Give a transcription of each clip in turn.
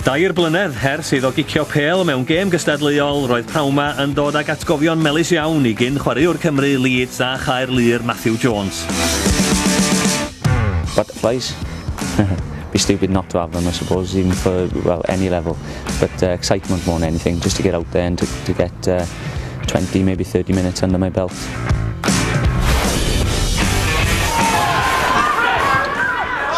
Dair blynedd hers iddo gicio pêl mewn gêm gystadleuol, roedd Pnauma yn dod ag atgofion melys iawn i gyn chwaraewr Cymru, Leeds a Chaerlŷr, Matthew Jones. Butterflies. be stupid not to have them, I suppose, even for well any level. But uh, excitement more than anything, just to get out there and to, to get uh, 20, maybe 30 minutes under my belt.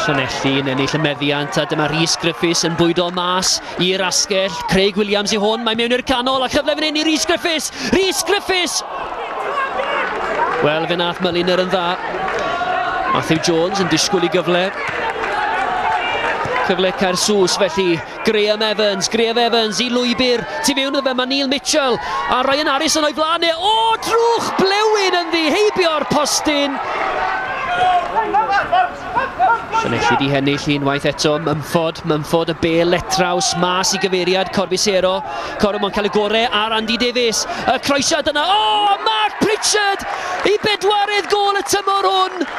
Llanelli yn ennill y meddiant a dyma Rhys Griffiths yn bwydo mas i'r asgell. Craig Williams i hwn, mae mewn i'r canol a chyfle fan hyn i Rhys Griffiths. Rhys Griffiths! Wel, fe nath Myliner yn dda. Matthew Jones yn disgwyl i gyfle. Cyfle cair sws felly Graham Evans, Graham Evans i lwybr, tu mewn iddo fe mae Neil Mitchell a Ryan Harrison o'i flaen e, o drwch blewyn yn ddi heibio'r postyn! Llanellid i hennill unwaith eto, Mumford, Mumford y bel letraws mas i gyfeiriad Corbisero, Corum o'n cael y gore ar Andy Davies, y croesiad yna, o! Oh, Mark Pritchard i bedwaredd gol y tymor hwn,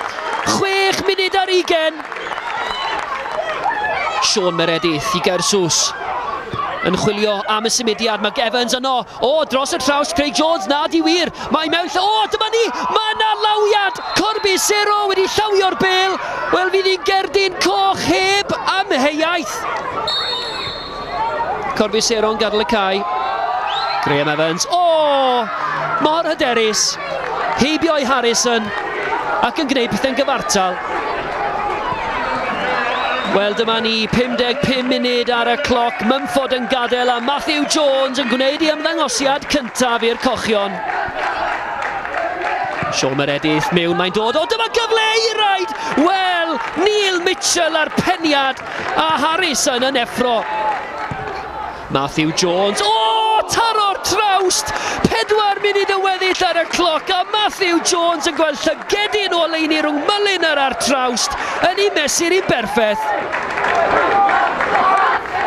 chwech munud ar ugen! Sean Meredith i Gersus. Yn chwilio am y symudiad, mae Evans yno. O, dros y traws, Craig Jones, na di wir. Mae mewn lle, o, dyma ni, mae yna lawiad. Corby Sero wedi llawio'r bel. Wel, fydd hi'n gerdyn coch heb amheuaeth. Corfi Seron gadw y cae. Graham Evans. O! Mor hyderus. Heibio i Harrison. Ac yn gwneud pethau'n gyfartal. Wel, dyma ni 55 munud ar y cloc. Mumford yn gadael a Matthew Jones yn gwneud ei ymddangosiad cyntaf i'r cochion. Sean Meredith mewn, mae'n dod. O, dyma gyfle i raid! Wel, Neil Mitchell a'r peniad. A Harrison yn effro. Matthew Jones. O! Taro'r trawst! Pedwar munud yn weddill ar y cloc a Matthew Jones yn gweld llygedyn o leini rhwng Mullin ar ar trawst yn ei mesur i'n berffaith.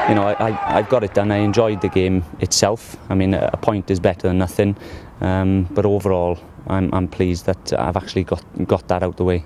You know, I, I, I've got it done. I enjoyed the game itself. I mean, a point is better than nothing. Um, but overall, I'm, I'm pleased that I've actually got, got that out the way.